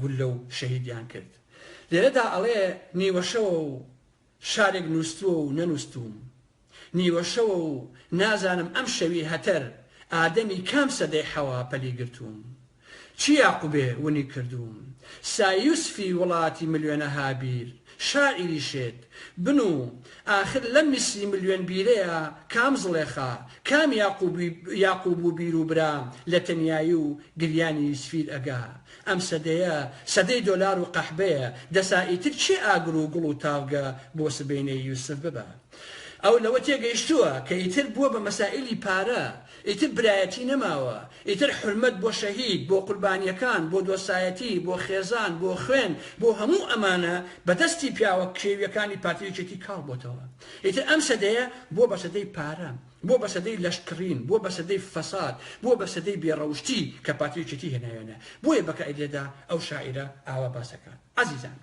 گوللە و شەهیدیان کرد. لێرەدا ئەڵێ نیوەشەوە و شارێک نووستووە و نەنووستووم. نیوەشەوە و نازانم ئەم شەوی هەتەر ئادەمی کام سەدەی حەوا پەلی گرتووم. چ یاقوبێ ونی کردووم. سایوسفی وڵاتی ملیۆنەها بیر شاعیری شێت بن و ئاخر لەم میسری ملیۆن بیرەیا کام زڵێخا، کام یاقوب و بیر و برا لە تەنیایی و گریانی یوسفیر ئەگا؟ ئەم سەدەیە سەدەی دۆلار و قەحبەیە، دەسا ئیتر کێ ئاگر و گوڵ و تاڤگە بۆ سبەینێی یوسف ببا؟ ئەو لەوە تێگەیشتووە کە ئیتر بووە بە مەسائیلی پارە، ئیتر برایەتی نەماوە، ئیتر حورمەت بۆ شەهید، بۆ قوربانیەکان، بۆ دۆستایەتی، بۆ خێزان، بۆ خوێن، بۆ هەموو ئەمانە بە دەستی پیاوە کێویەکانی پارتی و یەکێتی کاڵ بۆتەوە. ئیتر ئەم سەدەیە بووە بە سەدەی پارە، بووە بە سەدەی لەشکڕین، بووە بە سەدەی فەساد، بووە بە سەدەی بێ ڕەوشتی کە پارتی و یەکێتی هێناویانە. بۆیە بە کائیدێدا ئەو شاعیرە ئاوا باس ئەکات. ئازیزان!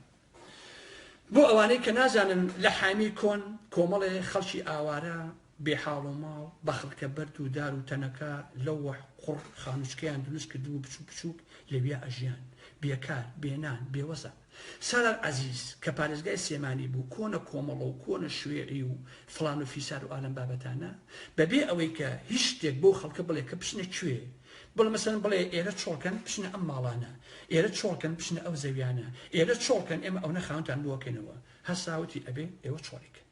بۆ ئەوانەی کە نازانن لە حامی کۆن کۆمەڵێ خەڵکی ئاوارە بێ حاڵ و ماڵ بە خڵکە بەرد و دار و تەنەکە، لەوح، قوڕ، خانووچکەیان دروست کردبوو بچووک بچووک لەویا ئەژیان، بێکار، بێ نان، بێ وەزع. سالار عەزیز کە پارێزگای سلێمانی بوو، کۆنە کۆمەڵە و کۆنە شوێعی و فڵان و فیسار و ئالەم بابەتانە، بە بێ ئەوەی کە هیچ شتێک بەو خەڵکە بڵێ کە بچنە کوێ، بڵێ مەسەلەن بڵێ ئێرە چۆڵ کەن بچنە ئەم ماڵانە، ئێرە چۆڵ کەن بچنە ئەو زەویانە، ئێرە چۆڵ کەن ئێمە ئەونە خاوەنتان بۆ ئەکەینەوە، هەر ساوتی ئەبێ ئێوە چۆڵی کەن.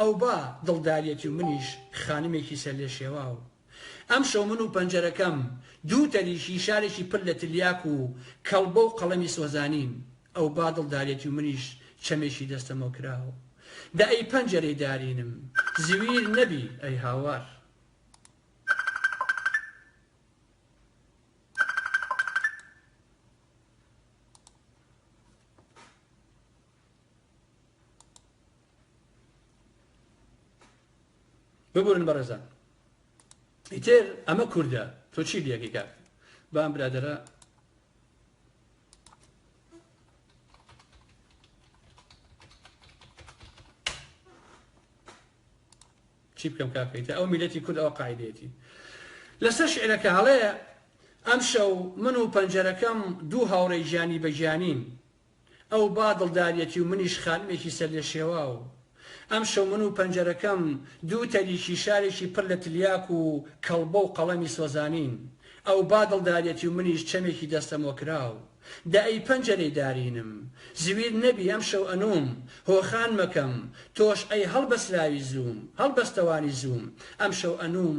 ئەوبا دڵداریەتی و منیش خانمێکی سەرلێشێواو. ئەمشەو من و پەنجەرەکەم دوو تەریکی شارێکی پر لە تلیاک و کەڵبە و قەڵەمی سۆزانین. ئەوبا دڵداریەتی و منیش چەمێکی دەستەمۆکراو. دە ئەی پەنجەرەی دارینم، زویر نەبی ئەی هاوار. ببورن بەڕێزان ئیتر ئەمە کوردە تۆ چی لەکەی کاک بام برادرە چی بکەم کاکەیتە ئەو میلەتی کورد ئەو قاعدێتی لەسەر شعرەکە هەڵەیە ئەم شەو من و پەنجەرەکەم دوو هاوڕێ گیانی بەگیانین ئەو با دڵداریەتی و منیش خانمێکی سەرلێشێواو. ئەمشەو من و پەنجەرەکەم دوو تەریکی شارێکی پڕ لە تلیاک و کەڵبە و قەڵەمی سۆزانین. ئەو با دڵداریەتی و منیش چەمێکی دەستەمۆکراو. دە ئەی پەنجەرەی دارینم، زویر نەبی ئەمشەو ئەنووم، هۆخان مەکەم، تۆش ئەی هەڵبەسراوی زووم، هەڵبەستەوانی زووم، ئەمشەو ئەنووم،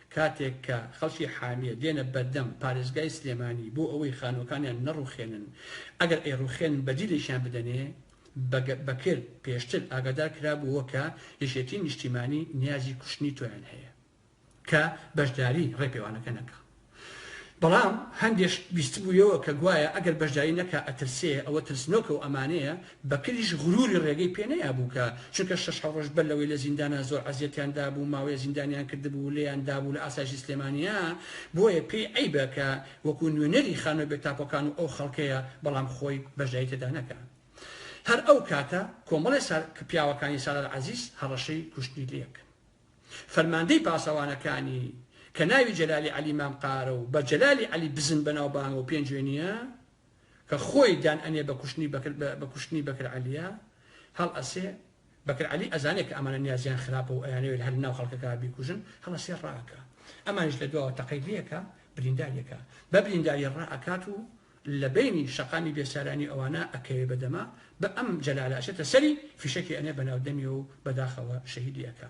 کاتێک کە خەڵکی حامیە دێنە بەردەم پارێزگای سلێمانی بۆ ئەوەی خانووەکانیان نەڕووخێنن ئەگەر ئەیڕووخێنن بەدیلێکیان بدەنێ، بەکر پێشتر ئاگادار کرابووەوە کە یەکێتیی نیشتیمانی نیازی کوشتنی تۆیان هەیە کە بەشداری ڕێپێوانەکە نەکا بەڵام هەندێکش بیستبوویەوە کە گوایە ئەگەر بەشداری نەکا ئەترسێ، ئەوە ترسنۆکە و ئەمانەیە بەکریش غروری ڕێگەی پێ نەیابوو کە چونکە شەش حەو ڕۆژ بەر لەوەی لە زیندانا زۆر ئەزیەتیان دابوو ماوەیە زیندانیان کردبوو لێیان دابوو لە ئاسایشی سلێمانیا بۆیە پێی عەیبە کە وەکو نوێنەری خانوە بێ تاپۆکان و ئەو خەڵکەیە بەڵام خۆی بەشداری تێدا نەکا هەر ئەو کاتە کۆمەڵی سا پیاوەکانی سالار عەزیز هەڕەشەی کوشتنی لێکن فەرماندەی پاسەوانەکانی کە ناوی جەلالی عەلی مام قارە و بە جەلالی عەلی بزن بەناوبانگە و پێنجوێنیە کە خۆی دان ئەنێ بە کوشتنی بەکر بە کوشتنی بەکر عەلیە هەڵ ئەسێ بەکر عەلی ئەزانێ کە ئەمانە نیازیان خراپە و ئەیانەوێت هەر ناو خەڵکەکە بیکوژن هەڵ ئەسێ ڕائەکا ئەمانیش لە دواوە تەقەی لێکا برینداری ئەکا بە برینداری ڕائەکات و لە بەینی شەقامی بێسارانی ئەوانە ئەکەوێ بە دەما بە ئەم جەلالە ئەچێتە سەری فیشەکی ئەنێ بە ناو دەمی و بەداخەوە شەهیدی ئەکا.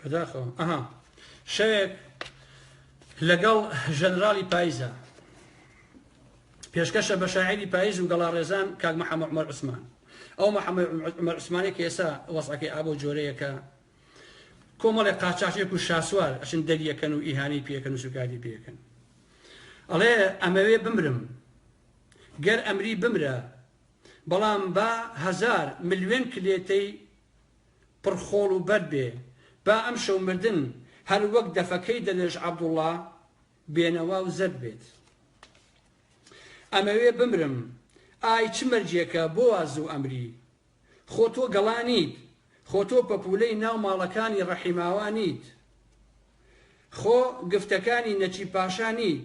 بەداخەوە ئەها شەوێک لەگەڵ ژەنراڵی پایزە پێشکەشە بە شاعری پایز و گەڵاڕێزان کاک محەمە عمر عوسمان ئەو محەمە عمر عوسمانێک ئێسا وەسعەکەی ئابۆ جۆرەیەکە کۆمەڵێک قاچاچێک و شاسوار ئەچن دەریەکەن و ئیهانەی پێکەن و سوکاری پێکەن ئەڵێ ئەمەوێ بمرم گەر ئەمری بمرە بەڵام با هزار ملیێن کلێتەی پڕ خۆڵ و بەرد بێ، با ئەمشەو مردن هەر وەک دەفەکەی دەلێژ عەبدوڵا بێنەوا و زەرد بێت. ئەمەوێ بمرم، ئای چ مەرگێکە بۆ وا زوو ئەمری؟ خۆ تۆ گەڵا نیت، خۆ تۆ پەپوولەی ناو ماڵەکانی ڕەحیماوا نیت. خۆ گفتەکانی نەجیب پاشا نیت،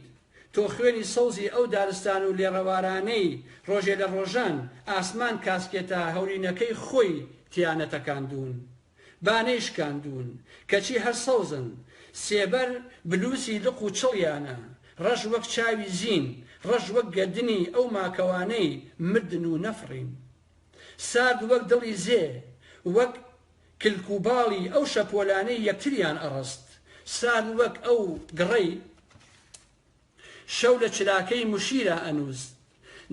تۆ خوێنی سەوزی ئەو دارستان و لێڕەوارانەی ڕۆژێ لە ڕۆژان ئاسمان کاسکێتە هەورینەکەی خۆی تیا نەتەکاندوون، با نەیشکاندوون، کەچی هەر سەوزن، سێبەر بلووسی لق و چڵیانە، ڕەش وەک چاوی زین، ڕەش وەک گەردنی ئەو ماکەوانەی مردن و نەفڕین. سارد وەک دڵی زێ، وەک. کلک و باڵی ئەو شەپۆلانەی یەکتریان ئەڕست سان وەک ئەو گڕەی شەو لە چراکەی مشیرا ئەنووس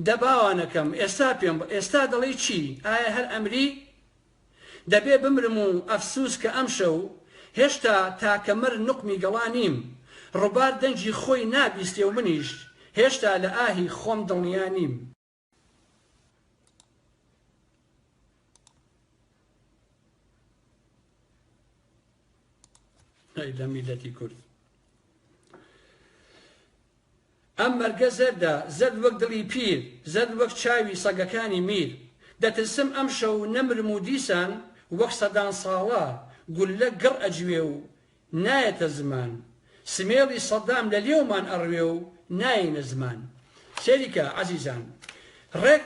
دە باوانەکەم ئێستا پێم ئێستا دەڵێی چی ئایا هەر ئەمری دەبێ بمرم و ئەفسووس کە ئەمشەو هێشتا تاکە مەر نوقمی گەڵا نیم ڕوبار دەنگی خۆی نابیستێ و منیش هێشتا لە ئاهی خۆم دڵنیا نیم. ئەی لە میلەتی کورد ئەم مەرگە زەردە زەرد وەک دڵی پیر زەرد وەک چاوی سەگەکانی میر دەترسم ئەم شەو نەمرم و دیسان وەک سەدان ساڵە گوللە گڕ ئەجوێ و نایەتە زمان سمێڵی سەدام لە لێومان ئەڕوێ و نایەینە زمان سەیریکە عەزیزان ڕێک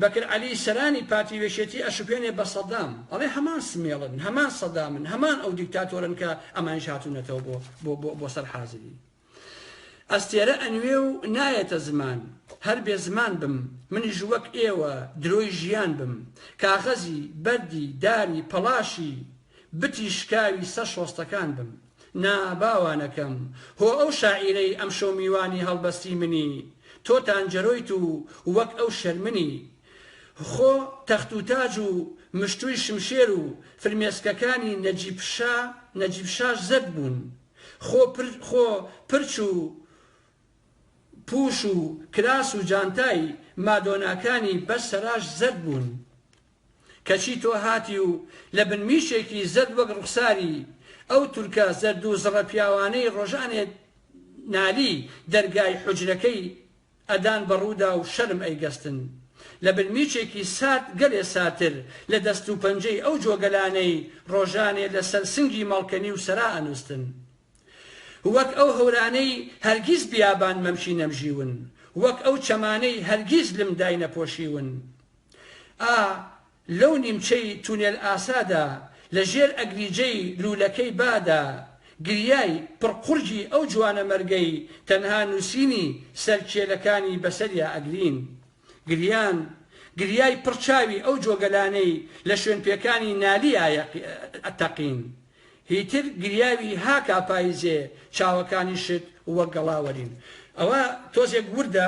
بەکر عەلی سەرانی پارتی وێشێتی ئەشوپێنێ بە سەدام ئەڵێ هەمان سمێڵن هەمان سەدامن هەمان ئەو دیکتاتۆرن کە ئەمانیش هاتونەتەوە بۆ بۆ بۆ سەر حازری ئەستێرە ئەنوێ و نایەتە زمان هەر بێ زمان بم منیش وەک ئێوە درۆی ژیان بم کاغەزی، بەردی، داری، پەڵاشی، بتی شکاوی سەر شۆستەکان بم نا با وا نەکەم هۆ ئەو شاعیرەی ئەمشەو میوانی هەڵبەستی منی تۆ تانجەرۆیت و وەک ئەو شەرمنی خۆ تەخت و تاج و مشتووی شمشێر و فرمێسکەکانی نەجیب شا نەجیب شاش زەرد بوون خۆ پر خۆ پرچ و پوش و کراس و جانتای مادۆناکانی بەس سەراش زەرد بوون کەچی تۆ هاتی و لە بن میشێکی زەرد وەک ڕوخساری ئەو تورکە زەردو زڕە پیاوانەی ڕۆژانێ نالی دەرگای حوجرەکەی ئەدان بە ڕوودا و شەرم ئەیگەستن لە بن میچێکی سارد گەلێ ساردتر لە دەست و پەنجەی ئەو جۆگەلانەی ڕۆژانێ لە سەر سنگی مەڵکەنی و سەرا ئەنووستن وەک ئەو هەورانەی هەرگیز بیابان مەمکی نەمژیون وەک ئەو چەمانەی هەرگیز لم داینەپۆشیون ئا لەو نیمچەی تونێل ئاسادا لە ژێر ئەگریجەی لوولەکەی بادا، گریای پڕ قورگی ئەو جوانەمەرگەی تەنها نووسینی سەر کێلەکانی بەسەریا ئەگرین. گریان، گریای پڕ چاوی ئەو جۆگەلانەی لە شوێنپێکانی نالیا ئەتەقین. هیتر گریاوی هاکا پاییزێ چاوەکانیشت وەک گەڵاوەرین. ئەوە تۆزێک وردە.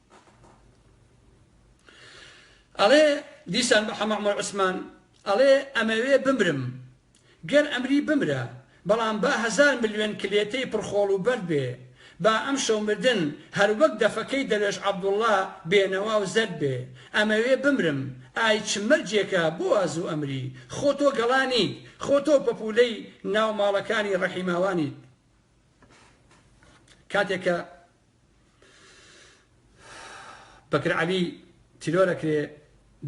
ئەڵێ دیسان بە حەمە عومەر عوسمان ئەڵێ ئەمەوێ بمرم، گەر ئەمری بمرە، بەڵام با هەزار ملیۆن کلێتەی پڕ خۆڵ و بەرد بێ، با ئەمشەو مردن هەر وەک دەفەکەی دەروێش عەبدوڵڵا بێنەوا و زەرد بێ، ئەمەوێ بمرم، ئای چ مەرجێکە بۆ وا زوو ئەمری، خۆ تۆ گەڵا نیت، خۆ تۆ پەپوولەی ناو ماڵەکانی ڕەحیماوانیت. کاتێک کە. بەکر عەلی تیرۆر ئەکرێ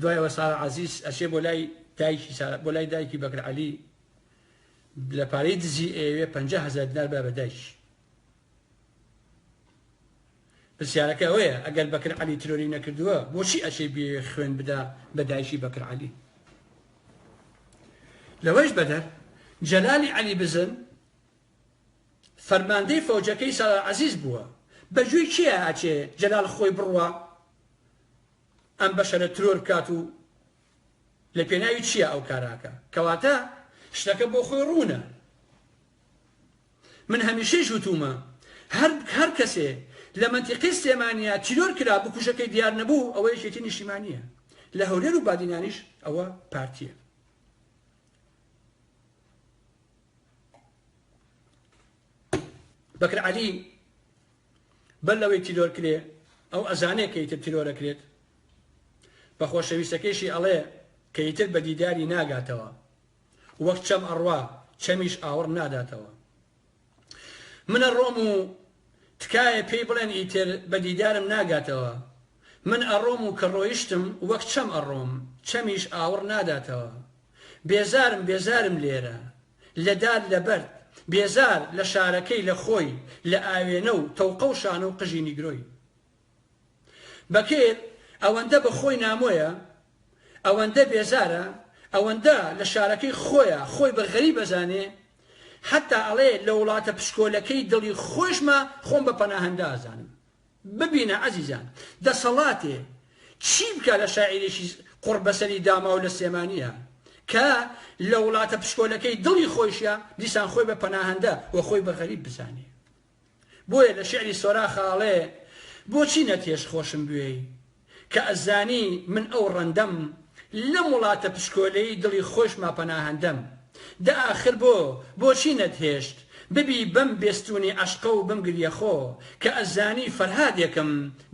دوای ئەوە سارا عەزیز ئەچێ بۆ لای دایکی سارا بۆ لای دایکی بەکر عەلی لە پارەی دزی ئەیەوێ پەنج هەزار دینار بە بە دایکی پرسیارەکە ئەوەیە ئەگەر بەکر عەلی ترۆری نەکردووە بۆچی ئەچێ بێ خوێن بدا بە دایکی بەکر عەلی لەوەش بەدەر جەلالی عەلی بزن فەرماندەی فەوجەکەی سالار عەزیز بووە بە گوێی کێ ئەهاتێ جەلال خۆی بڕوا ئەم بەشەرە ترۆر بکات و لە پێناوی چییە ئەو کارە ئەکا کەواتە شتەکە بۆ خۆی ڕوونە من هەمیشەیش وتومە هەر هەر کەسێ لە مەنتیقی سلێمانیا تیرۆر کرا بکوژەکەی دیار نەبوو ئەوە یەکێتی نیشتیمانیە لە هەولێر و بادینانیش ئەوە پارتیە بەکر عەلی بەر لەوەی تیرۆر کرێ ئەو ئەزانێ کە ئیتر تیرۆرە کرێت بە خۆشەویستەکەیشی ئەڵێ کە ئیتر بە دیداری ناگاتەوە وەک چەم ئەڕوا چەمیش ئاوڕ ناداتەوە منە ڕۆم و تکایە پێی بڵێن ئیتر بە دیدارم ناگاتەوە من ئەڕۆم و کە ڕۆیشتم وەک چەم ئەڕۆم چەمیش ئاوڕ ناداتەوە بێزارم بێزارم لێرە لە دار لە بەرد بێزار لە شارەکەی لە خۆی لە ئاوێنە و تەوقە و شانە و قژی نیگرۆی بەکر ئەوەندە بە خۆی نامۆیە ئەوەندە بێزارە ئەوەندە لە شارەکەی خۆیە خۆی بە غەریب ئەزانێ حەتا ئەڵێ لە وڵاتە پشکۆلەکەی دڵی خۆشمە خۆم بە پەناهەندە ئەزانم ببینە ئەزیزان دەسەڵاتێ چی بکا لە شاعیرێکی قوڕبەسەری داماو لە سلێمانیە کە لە وڵاتە پشکۆلەکەی دڵی خۆیشە دیسان خۆی بە پەناهەندە و خۆی بە غەریب بزانێ بۆیە لە شعری سۆراخ ئاڵێ بۆچی نەتهێشت خۆشم بوێی کە ئەزانی من ئەو ڕەندەم لەم وڵاتە پشکۆلەی دڵی خۆشما پەناهەندەم دە ئاخر بۆ بۆچی نەتهێشت ببی بەم بێستونی عەشقە و بم گریە خۆ کە ئەزانی فەرهادێکم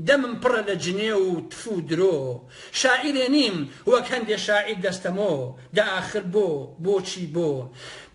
دەمم پڕە لە جنێو و تف و درۆ شاعیرێ نیم وەک هەندێ شاعیر دەستە مۆ دە ئاخر بۆ بۆچی بۆ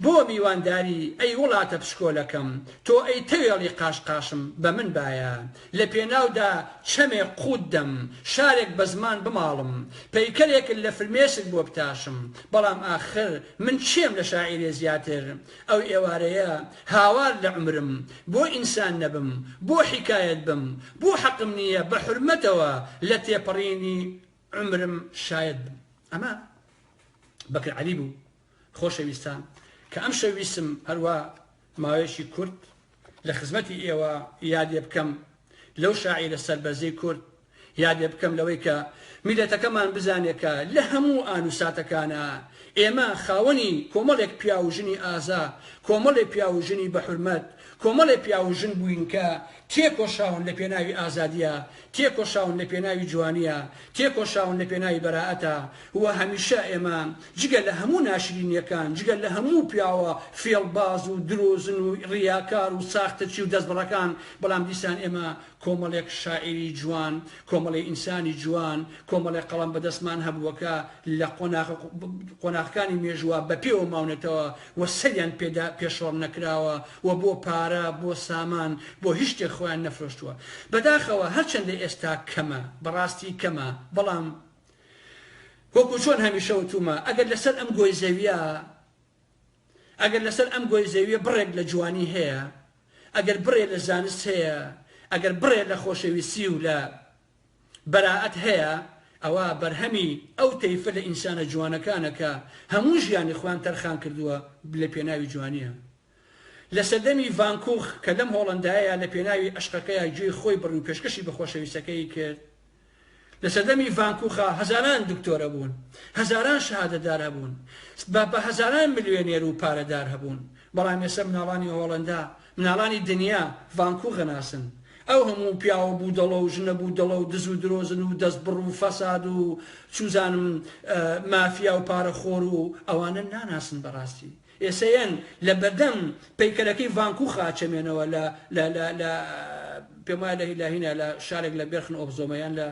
بۆ میوانداری ئەی وڵاتە پشکۆلەکەم تۆ ئەی تەوێڵی قاش قاشم بە من بایە لە پێناودا چەمێ قووت دەم، شارێک بە زمان بماڵم، پەیکەرێکن لە فرمێسک بۆ بتاشم، بەڵام ئاخر من چێم لە شاعیرێ زیاتر؟ ئەو ئێوارەیە هاوار لە عومرم، بۆ ئینسان نەبم، بۆ حیکایەت بم، بۆ حەقم نییە بە حورمەتەوە لە تێپەڕینی عومرم شایەت بم؟ ئەمە بەکر عەلی بوو، خۆشەویستان کە ئەم شەو ویستم هەروا ماوەیەکی کورت لە خزمەتی ئێوە یادێ بکەم لەو شاعیرە سەربەرزەی کورد یادێ بکەم لەوەی کە میلەتەکەمان بزانێ کە لە هەموو ئان و ساتەکانا ئێمە خاوەنی کۆمەڵێک پیاو و ژنی ئازا کۆمەڵێ پیاو و ژنی بە حورمەت کۆمەڵێ پیاو و ژن بووین کە تێکۆشاون لە پێناوی ئازادیە تێکۆشاون لە پێناوی جوانیە، تێکۆشاون لە پێناوی بەرائەتە و هەمیشە ئێمە جگە لە هەموو ناشرینیەکان، جگە لە هەموو پیاوە فێڵباز و درۆزن و ڕیاکار و ساختەچی و دەستبڕەکان، بەڵام دیسان ئێمە کۆمەڵێک شاعیری جوان، کۆمەڵێ ئینسانی جوان، کۆمەڵێ قەڵەم بەدەستمان هەبووە کە لە قۆناغە قۆناغەکانی مێژووە بەپێوە ماونەتەوە و سەریان پێدا پێشڕەو نەکراوە و بۆ پارە، بۆ سامان، بۆ هیچ شتێک خۆیان نەفرۆشتووە. بەداخەوە هەرچەندە ئێستا کەمە، بەڕاستی کەمە، بەڵام وەکو چۆن هەمیشە وتوومە، ئەگەر لەسەر ئەم گۆی زەوییە، ئەگەر لەسەر ئەم گۆی زەوییە بڕێک لە جوانی هەیە، ئەگەر بڕێ لە زانست هەیە، ئەگەر بڕێ لە خۆشەویستی و لە بەرائەت هەیە، ئەوا بەرهەمی ئەو تەیفە لە ئینسانە جوانەکانە کە هەموو ژیانی خۆیان تەرخان کردووە لە پێناوی جوانییە. لە سەردەمی ڤان کوخ کە لەم هۆڵەندایەیا لە پێناوی ئەشقەکەیا گوێی خۆی بڕی و پێشکەشی بە خۆشەویستەکەی کرد. لە سەردەمی ڤان کوخا هەزاران دکتۆر هەبوون، هەزاران شەهادەتدار هەبوون، بە بە هەزاران ملیۆنێر و پارەدار هەبوون، بەڵام ئێستا مناڵانی هۆڵەندا مناڵانی دنیا ڤانکوغ ئەناسن. ئەو هەموو پیاوە بودەڵە و ژنە بودەڵە و دز و درۆزن و دەستبڕ و فەساد و چوزانم مافیا و پارە خۆر و ئەوانە ناناسن بەڕاستی ئێسەیەن لە بەردەم پەیکەرەکەی ڤانکوخا ئەچەمێنەوە لە لە لە لە پێم وایە لە هیلاهینا لە شارێک لە بێرخن ئۆف زۆمە یان لە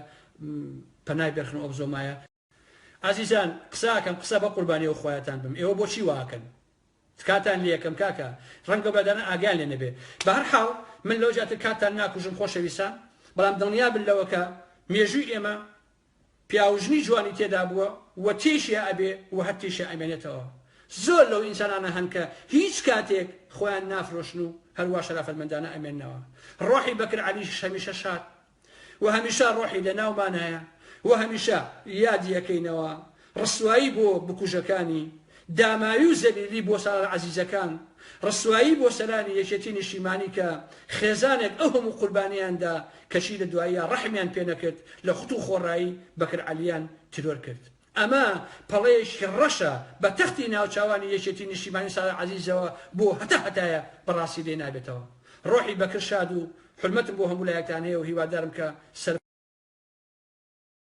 پەنای بێرخن ئۆف زۆمایە ئازیزان قسە ئەکەم قسە بە قوربانی ئەو خوایەتان بم ئێوە بۆچی وا ئەکەن تکاتان لێ ئەکەم کاکە ڕەنگە بەدانە ئاگایان لێ نەبێ بەهەر حاڵ من لەوە زیاتر کاتتان ناکوژم خۆشەویستان بەڵام دڵنیا بن لەوە کە مێژووی ئێمە پیاو ژنی جوانی تێدا بووە و تێشیا ئەبێ و هەر تێشیا ئەمێنێتەوە زۆر لەو ئینسانانە هەن کە هیچ کاتێک خۆیان نافرۆشن و هەروا شەرافەتمەندانە ئەمێننەوە ڕۆحی بەکر عەلیش هەمیشە شاد و هەمیشە ڕۆحی لەناومانایە و هەمیشە یادی ئەکەینەوە، ڕسوایی بۆ بکوژەکانی، داماوی و زەلیلی بۆ سالار عەزیزەکان، ڕسوایی بۆ سەرانی یەکێتی نیشتیمانی کە خێزانێک ئەو هەموو قوربانیەیان دا کەچی لە دواییا ڕەحمیان پێنەکرد لە خوت و خۆڕایی بەکر عەلیان تیرۆر کرد. ئەمە پەڵەیەکی ڕەشە بە تەختی ناوچاوانی یەکێتی نیشتیمانی سارا عەزیزەوە بۆ هەتا هەتایە بەڕاستی لێ نابێتەوە ڕۆحی بەکر شاد و حورمەتم بۆ هەموو لایەکتان هەیە و هیوادارم کە